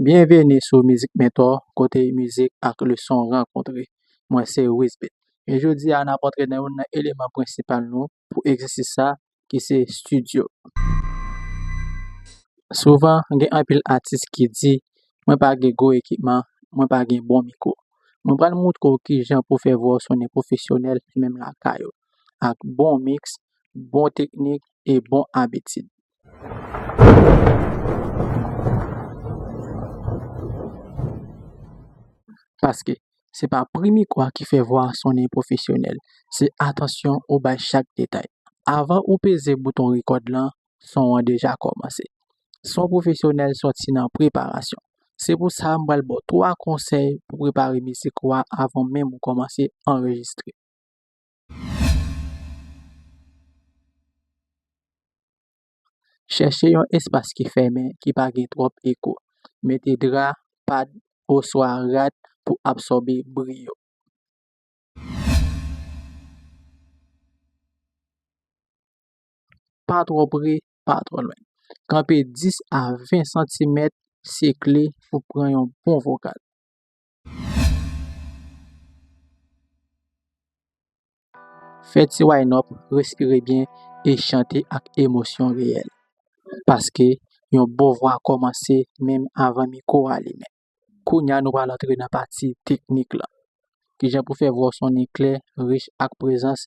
Byenveni sou Mizik Mentor, kote mizik ak leson rankontre. Mwen se Wisby. E jodi a, n ap antre nan youn nan eleman prensipal nou, pou egzèsis sa ki se studio. Souvan gen anpil atis ki di mwen pa gen gwo ekipman, mwen pa gen bon mikwo. Mwen pral moutre w kijan pou fè vwa w sonnen pwofesyonèl menm lakay ou ak bon miks, bon teknik e bon abitid. Paske, se pa pri mikwa ki fè vwa a sonnen pwofesyonèl, se atansyon ou bay chak detay. Avan ou peze bouton rekòd lan, son an deja kòmanse. Son pwofesyonèl sòti nan preparasyon. Se pou sa m pral ba w 3 konsèy pou prepare mizik ou a avan menm ou kòmanse anrejistre. Chèche yon espas ki fèmen ki pa gen twòp eko. Mete dra, pad, oswa rad pou absòbe bri yo. Pa twò pre, pa twò lwen. Kanpe 10 a 20 santimèt sekle pou pran yon bon vokal. Fè ti wine up, respire byen e chante ak emosyon reyèl. Paske, yon bon vwa kòmanse menm avan mikwo a limen. Kounya nou pral antre nan pati teknik lan. Kijan pou fè vwa w sonnen klè, rich ak prezans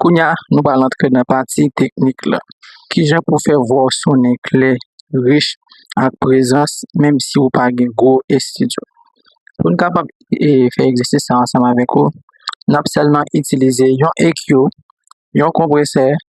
Kounye a, nou pral antre nan pati teknik la. Kijan pou fè vwa w sonnen klè, rich ak prezans menm si ou pa gen gwo estidyo. Pou n kapab fè egzèsis sa ansanm avèk ou, n ap sèlman itilize yon EQ, yon konpresè.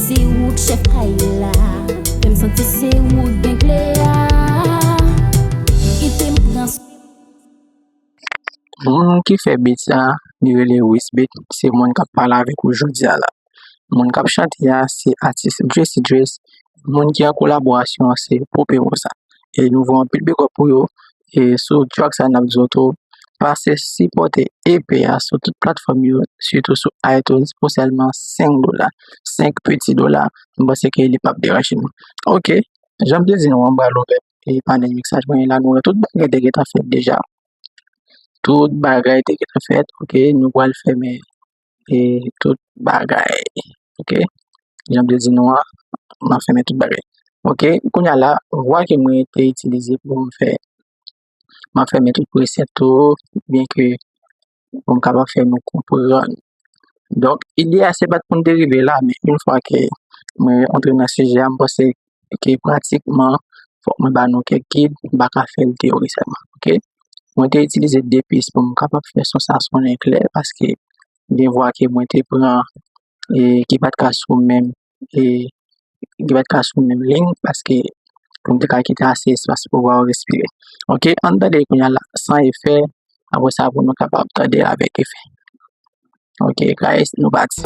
Se ou k chèf kay la. Fèm santi se ou k gen kle a. Kite m pran. Moun ki fè beat sa li rele Wiss Beat se moun kap pale avèk ou jodia la moun kap chante a se atis Jesi Dreas moun ki an kolaborasyon an se Popé Rosa e nou voye anpil bigòp pou yo e sou track sa nap di zot ou pase sipòte EP a sou tout platfòm yo sitou sou itunes pou sèlman 5 dola 5 piti dola m panse ke li pap deranje nou ok janm te di nou an m bal ouvè e panèl miksaj mwen la nou wè tout bagay te gentan fèt deja tout bagay te gentan fèt ok nou pwal fèmen e tout bagay ok janm te di nou an map fèmen tout bagay ok kounya la vwa ke mwen te itilize poum fè map fèmen tout presèt yo byen ke poum kapab fè nou konprann donk ide a se pat poun derive la men yon fwa ke mwen antre nan sijè a m panse ok pratikman fòk mwen ba nou kèk gid m pa ka fèl teyorikman ok mwen te itilize 2 pis pou m kapab fè son sa sonnen klè paske gen vwa ke mwen te pran ki pat ka sou menm ki pat ka sou menm leng paske pou m te ka kite ase espas pou vwa yo respire ok ann tande kounye a la san efè apre sa pou nou kapab tande avèk efè Ok, guys, nou pati.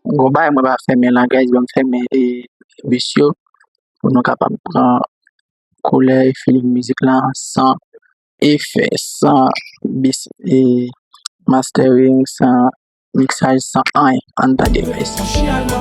Gwo bay mwen pa fèmen la guys, banm fèmen e bus yo pou nou kapab pran koulè e feeling mizik la san efè san bis e mastering san miksaj san anyen anndan device la.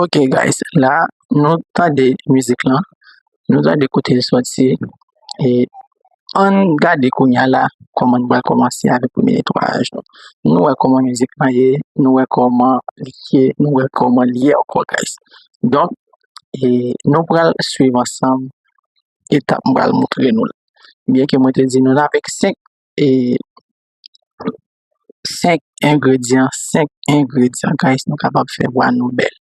Ok guys la nou tande mizik lan nou tande kote l soti e ann gade kounya la kòman nou pral kòmanse avèk premye netwayaj nou nou wè kòman mizik lan ye nou wè kòman li ye nou wè kòman li ye ankò guys donk e nou pral swiv ansanm etap m pral montre nou la byenke mwen te di nou n avèk senk e 5 engredyan, 5 engredyan guys nou kapab fè vwa nou bèl.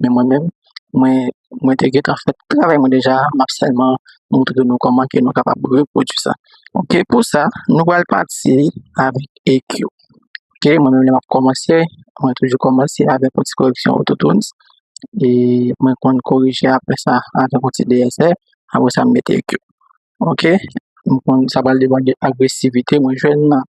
Men mwen menm, mwen, mwen te gentan fè tout travay mwen deja, m ap sèlman montre nou kòman ke nou kapab repwodui sa. Ok, pou sa, nou pral pati avèk EQ. Ok, mwen menm lè m ap kòmanse, mwen toujou kòmanse avèk yon ti koreksyon Autotunes, e mwen konn korije apre sa avèk yon ti DSR, apre sa m mete EQ. Ok, m konn sa pral depande agresivite mwen jwenn nan.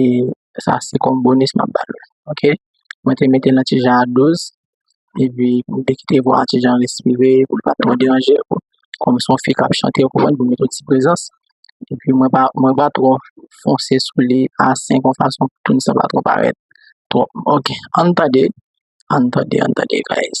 e sa se kòm bonis map ba nou ok mwen te metel nan ti jan a 12 epi m te kite vwa a ti jan respire poul pa twò deranje ou kòm son fi kap chante ou konprann pou met yon ti prezans epi mwen pa mwen pa twò fonse sou li a 5 yon fason pou tune sa pa twò parèt twòp ok ann tande ann tande ann tande guys.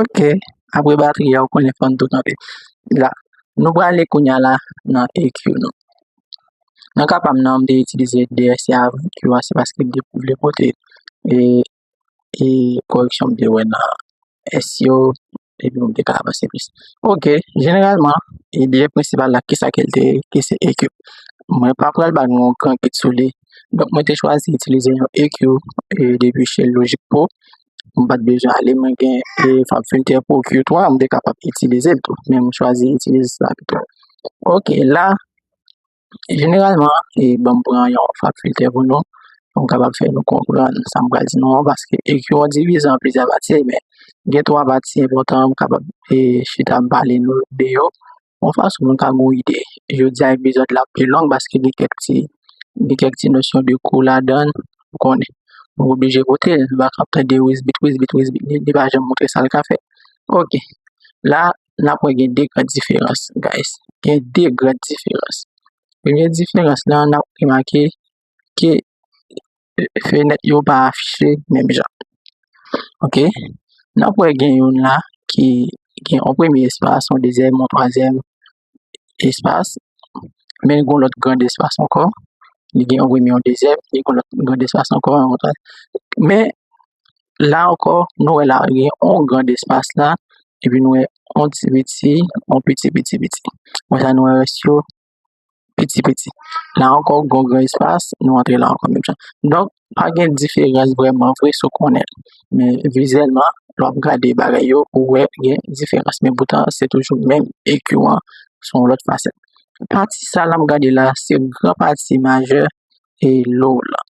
Ok apre batri a ou konnen fòn tou kanpe la nou prale kounya la nan EQ nou nan ka pam nan m te itilize DSC avan EQ a se paske m te vle pote e e koreksyon m te wè nan S yo epi m te ka avanse plis ok jeneralman e de prensipal la kisa ke l te ye ki se EQ mwen pa pral ba nou yon gran kit sou li donk mwen te chwazi itilize yon EQ e depi chez Logic Pro m pat bezwen ale mwen gen fakulte pou ky 3 m te kapab itilize l tou men m chwazi itilize sa pito ok la jeneralman e banm pran yon fakulte pou nou pou m kapab fè nou konprann sa m pral di nou an paske ekyo an divize an plizyè pati men gen 3 pati enpòtan m kapab chita m pale nou de yo Yon fason nou ka gen yon ide, jodi a epizòd la pi long paske gen kèk ti, gen kèk ti nosyon de kou ladan l, ou konnen. Mwen oblije koute l, bak ap tande wisbit wisbit wisbit, li pa janm montre sa l ka fè. Ok, la n ap wè gen 2 gran diferans guys, gen 2 gran diferans. Premye diferans lan n ap remake ke fenèt yo pa afiche menm jan. Ok, n ap wè gen youn la ki gen yon premye espas, yon dezyèm, yon twazyèm espas. Men gen yon lòt gran espas ankò. Li gen yon premye, yon dezyèm, li gen yon lòt gran espas ankò. Men, la ankò, nou wè la gen yon gran espas la, epi nou wè yon ti piti, yon piti piti piti. Wè sa nou wè rès yo? piti piti. La ankò ou gen yon gran espas, nou antre la ankò menm jan. Donk, pa gen diferans vrèman vre si w konnen l. Men, vizyèlman, lè w ap gade bagay yo, ou wè gen diferans. Men poutan, se toujou menm EKIW an sou yon lòt fasèt. Pati sa l ap gade la a, se gran pati majè e low la.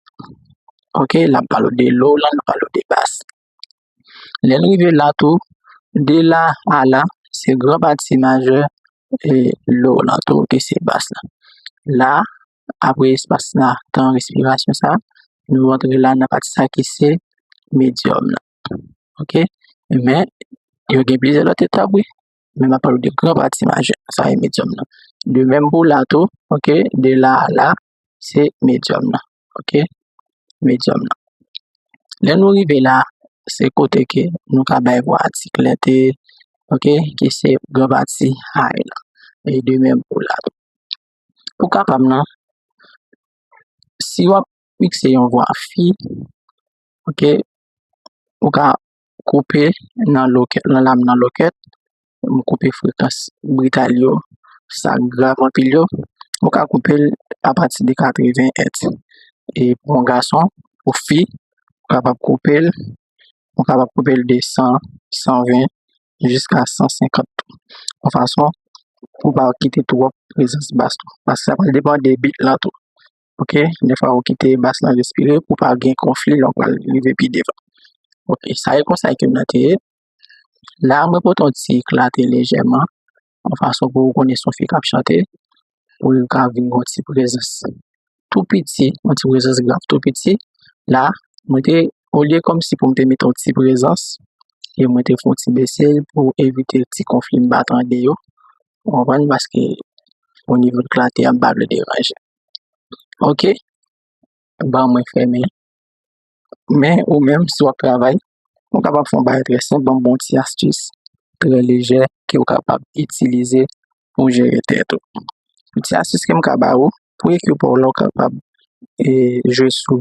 Ok, l ap pale w de low la, l ap pale w de bas. Lè n rive la tou, de la a la, se gran pa ti majè e do lan tou ki se bas la. La, apre espas la, tan respirasyon sa, nou rantre la nan pati sa ki se medyòm la. Ok? Men, yo gen plizyè lòt etap wi. Men m ap pale w de gran pa ti majè. Sa e medyòm nan. De menm pou la tou, ok? De la a la, se medyòm nan. ok medyòm nan lè nou rive la se kote ke nou ka bay vwa a ti klète ok ki se gran pati high la e de menm pou la tou pou kapab nan si wap mikse yon vwa fi ok ou ka koupe nan lokèt nan lam nan lokèt m koupe frekans brital yo sa grav anpil yo mwen ka koupe l apati de 80 èt e pou yon gason pou fi mwen kapab koupe l mwen kapab koupe l de 100 120 jiska 150 tou yon fason pou m pa kite twòp prezans bas la paske sa pral depan de bit la tou. ok defwa ou kite bas la respire pou pa gen konfli lè ou pral rive pi devan ok sa e konsa ke m nan te ye la mwen pote yon ti eklate lejèman yon fason pou ou konnen son fi k ap chante pou li ka vin yon ti prezans tou piti yon ti prezans grav tou piti la mwen te olye kòmsi pou m te mete yon ti prezans e mwen te fon ti bese l pou evite ti konfli m pa tande yo ou konprann paske o nivo eklate a m pa vle deranje. ok ba mwen fèmen men ou menm si wap travay ou kapab fè yon bagay trè senp banm yon ti astis trè lejè ke ou kapab itilize pou jere tèt ou yon ti astis kem ka ba ou pou ekipaw la ou kapab jwe sou.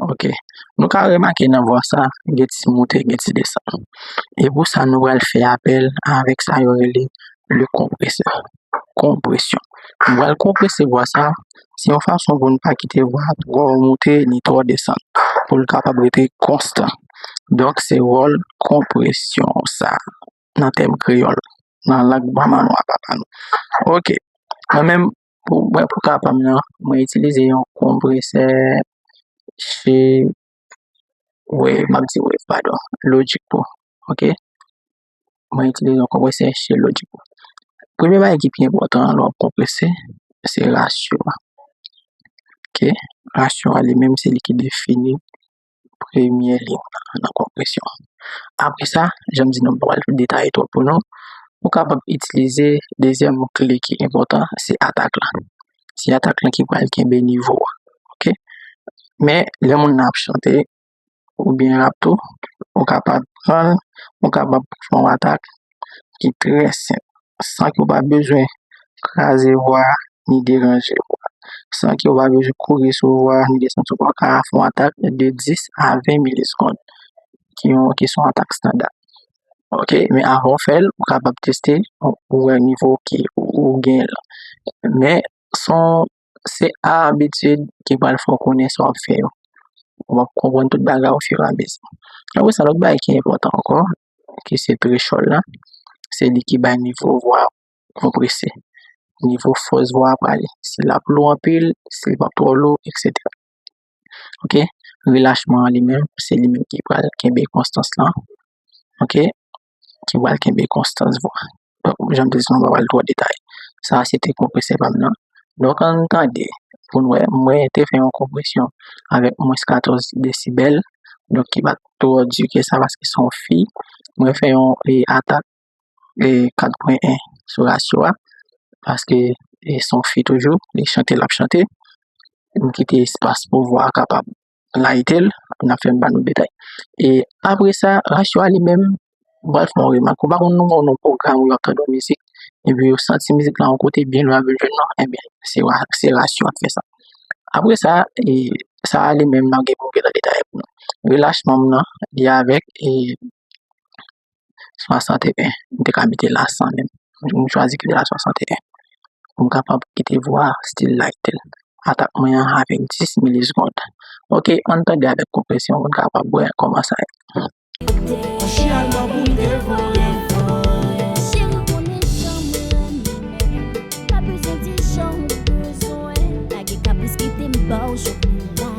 Ok, nou ka remake nan vwa sa, gen ti moute, gen ti desann. E pou sa nou pral fè apèl avèk sa yo rele le konpresè, konpresyon. Nou pral konprese vwa sa, se yon fason pou nou pa kite vwa a twò moute ni twò desann, pou l kapab rete konstan. Donk se wòl konpresyon sa nan tèm kreyòl, nan lang manman nou a papa nou. Ok, mwen menm Mwen pou ka pam nan, mwen itilize yon konpresè che we, map di we padon, lojik pou, ok. Mwen itilize yon konpresè che lojik pou. Premye bagay ki pi enpòtan lè wap konpresè, se rasyon an. Ok, rasyon an li menm se li ki defini. premye liy la nan konpresyon an. Apre sa, jan m di nou m pa pral detaye twòp pou nou, ou kapab itilize dezyèm kle ki enpòtan se atak la. Se atak la ki pral kenbe nivo a ok. Men lè moun nan ap chante oubyen rap tou, ou kapab pran l, ou kapab fè yon atak ki trè senp. san ke w pa bezwen kraze vwa a, ni deranje vwa a. San ke w pa bezwen kouri sou vwa a, ni desann sou vwa a. Ou ka fè yon atak de 10 a 20 milisekond, ki yon, ki son atak standa. Ok, men avan w fè l, ou kapab teste pou wè nivo ke ou gen lan. Men, son, se a abitid ki pral fè w konnen sa w ap fè yo. Ou ap konprann tout bagay ofiramezi. Apre sa, lòt bagay ki enpòtan ankò, ki se trechòl la, se li ki bay nivo vwa a konprese, nivo fòs vwa a prale. Si l ap lou anpil, si l pa twò lou, eksetera. Ok. Relachman an li menm, se li menm ki pral kenbe konstans lan. Ok. Ki pral kenbe konstans vwa a. tankou jan m te di nou m pa pral twò detay. Sa a se te konpresè pa m nan. Donk an n tande pou n wè. Mwen te fè yon konpresyon avèk mwens 14 desibèl, donk ki pa t twò di ke sa paske se yon fi. Mwen fè yon atak 4 pwen 1 sou rasyo a paske se yon fi toujou, li chante l ap chante. M kite espas pou vwa a kapab. layite l, n ap fè m ba nou detay. E apre sa, rasyon a li menm, ou pral fè yon remak, ou pa konn nou wè yon pwogram ou wap tande yon mizik, epi ou santi mizik lan yon kote byen lwen avèk jèn lan, enben, se rasyon an k fè sa. Apre sa, sa a li menm, n ap gen pou nou antre nan detay pou nou. Relach manm lan, li avèk e. 61 m te ka mete la 100 menm m chwazi kite la 61 pou m kapab kite vwa a still light atak mwen an avek 10 mili segond ok an tande avek konpresyon pou n kapab wè kòman sa ye.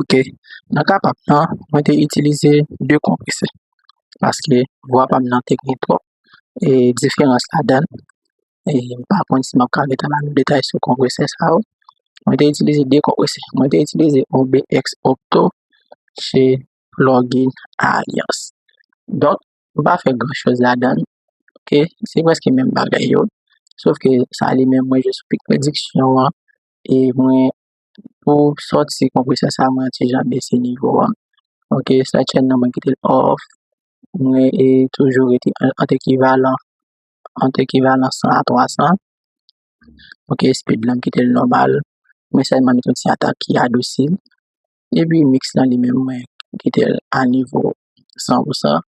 Ok, nan ka pa'm nan, mwen te itilize 2 konpresè paske vwa pa'm nan te gou twòp e diferans ladan e m pa konn si map ka mete nan detay sou konpresè sa yo. Mwen te itilize 2 konpresè, mwen te itilize yon BX Opto che Lorgin Alliance. Donk, m pa fè gran choz ladan, ok, se preske menm bagay yo, sof ke sa li menm mwen jis pik prediksyon an e mwen. Pou sòti konpresè sa mwen ti jan bese nivo a ok sa chèn nan mwen kitel off mwen e toujou rete ant ekivalan ant ekivalan 100 a 300 ok speed la mkitel nòmal mwen sèlman met yon ti atak ki adousi epi miks la li menm mwen kitel a nivo 100 pou 100.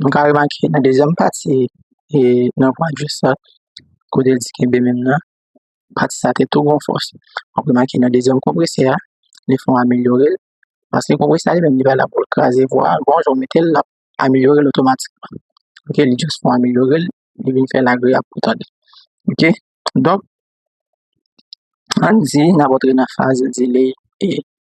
Nou ka remake nan dezyèm pati e nan pwen jis la, kote l di kenbe menm nan, pati sa te tou ranfòse. Ou ka remake nan dezyèm konpresè a, li fè yon amelyore l. Paske konpresè a li menm li pa la pou l kraze vwa a, bon jan w mete l l ap amelyore l otomatikman. Ok, li jis fè yon amelyore l, li vin fè l agreyab pou tande. Ok, donk, ann di n ap antre nan faze delay 1.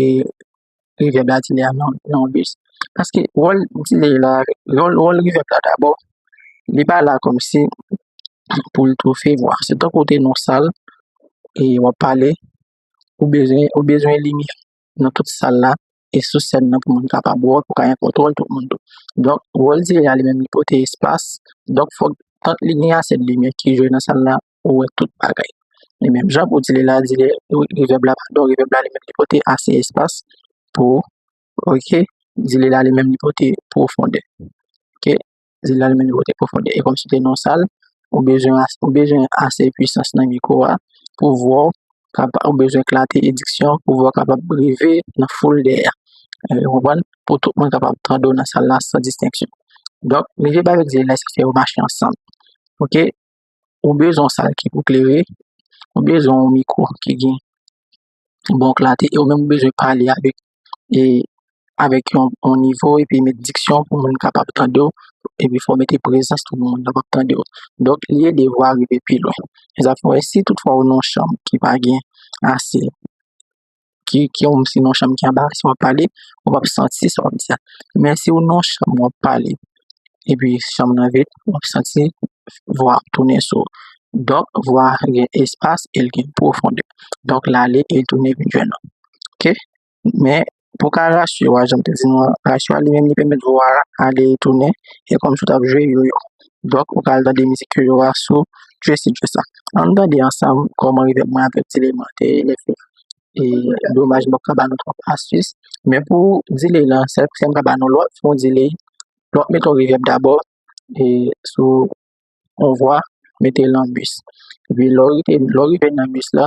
e rivye blan ti lè nan yon bis paske wòl ti lè la wòl rivye blan dabò li pa la kòm si pou l toufe vwa se tankou ou te nan sal e w ap pale ou bezwen ou bezwen limi nan tout sal la e sou sèn nan pou moun kapab wè w pou w ka gen kontwòl tout moun tou donk wòl ti lè a li menm li pote espas donk fòk li gen ase limyè ki jwe nan sal la. ou wè tout bagay. E menm jan pou di li la, di li, revèb la, padon, revèb la li menm li pote ase espas pou, ok, di li la li menm li pote pwofonde. Ok, di li la li menm li pote pwofonde. E kòm si te non sal, ou bezwen ase, ou bezwen ase pwisans nan miko a pou vwa ou kapa, ou bezwen klate ediksyon pou vwa ou kapab rive nan foul dèyè. Ou konprann? Pou tout moun kapab tande w nan sal la san distenksyon. Donk, revèb avèk di li la se fè yo mache ansanm. Ok, Ou bezwen yon sal ki pou klere, ou bezwen yon mikwo ki gen bon klate e ou menm ou bezwen pale avèk e avèk yon bon nivo epi met diksyon pou moun kapab tande w epi fè w mete prezans pou moun kapab tande w. Donk li ede vwa rive pi lwen. Sa fè si tout fwa ou nan yon chanm ki pa gen ase. ki yon si nan chanm ki anba sa wap pale ou pap santi sa wap di a men si ou nan chanm wap pale epi chanm nan vid wap santi vwa ap tounen sou ou donk vwa gen espas e li gen pwofonde donk l ale e l tounen vin jwenn ou ok men pou ka rasire w a janm te di nou an rasire w a li menm li pèmèt vwa a ale e tounen e kòmsi w tap jwe yoyo Donk ou pral tande mizik yo yo a sou Tracy Joss la. An nou tande ansanm kòman revèb mwen avèk Ti Leman te rele fèt. E domaj mwen paka ba nou twòp astis. Men pou delay lan, sèl kote m ka ba nou lòt fon delay, lòt met yon revèb dabò e sou yon vwa mete l an bus. Epi lè w rive nan bus la,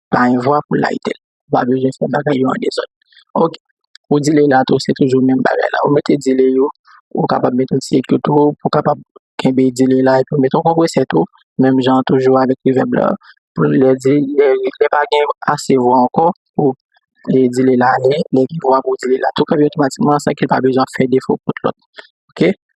pa yon vwa pou layite l. Ou pa bezwen fè bagay yo an dezòd. Ok, ou dile la tou, se toujou menm bagay la. Ou mete dile yo, ou kapab mete yon ti ekri tou, pou kapab kenbe dile la, epi ou mete yon konpresè tou, menm jan an toujou avèk revèb la. Pou lè di, lè pa gen ase vwa ankò, pou dile la ale, lè gen vwa pou dile la tou, kanpe otomatikman san ki pa bezwen fè defo kont lòt. Ok?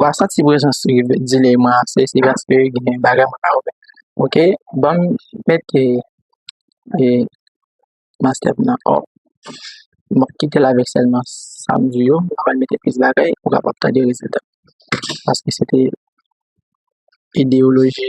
Wa santi prezans li vle di li man ase se paske gen bagay mwen pa wè ok banm mete maskèm nan ò mwen kitel avèk sèlman sam di yo mwen pral mete plis bagay ou kapab tande rezilta paske se te ideyoloji.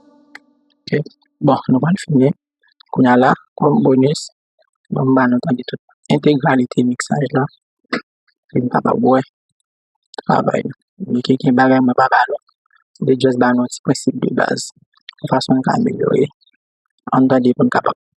Bon nou pral fini kounya la kòm bonis mwen m banou tande tout entegralite miksaj la pou nou kapab wè travay nou men ki gen bagay mwen pa ba nou m te jis banou ti prensip de baz yon fason nou ka amelyore an nou tande pou nou kapab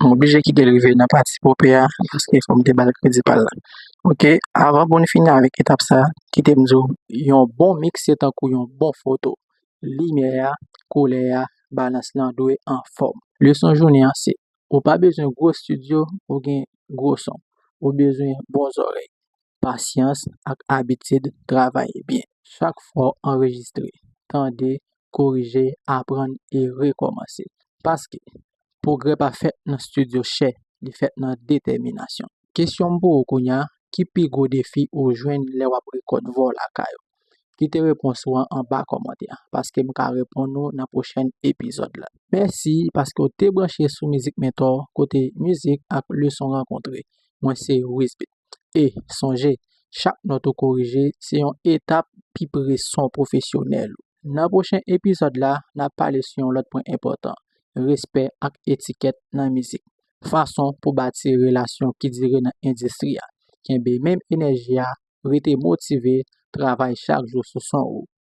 M oblije kite l rive nan pati pope a paske fò m te ba l kredi pa l la. Ok, avan pou n fini avèk etap sa, kite m di w yon bon miks se tankou yon bon foto, limyè a, koulè a, balans lan dwe anfòm. Leson jounen an se, ou pa bezwen gwo stidyo pou gen gwo son, ou bezwen bon zòrèy. pasyans ak abitid travay byen. Chak fwa w anrejistre, tande, korije, aprann e rekòmanse. Paske, pwogrè pa fèt nan stidyo chè, li fèt nan detèminasyon. Kesyon m pou ou kounye a, ki pi gwo defi ou jwenn lè w ap rekòt vò lakay ou? Kite repons ou an anba kòmantè a, paske m ka reponn ou nan pwochèn epizòd la. Mèsi paske w te branche sou Mizik Mentor, kote mizik ak leson rankontre. Mwen se Wisbeat. E, sonje, chak nòt ou korije se yon etap pi pre son pwofesyonèl ou. Nan pwochen epizòd la, n ap pale sou yon lòt pwen enpòtan, respè ak etikèt nan mizik. Fason pou bati relasyon ki dire nan endistri a, kenbe menm enèji a, rete motive, travay chak jou sou son ou.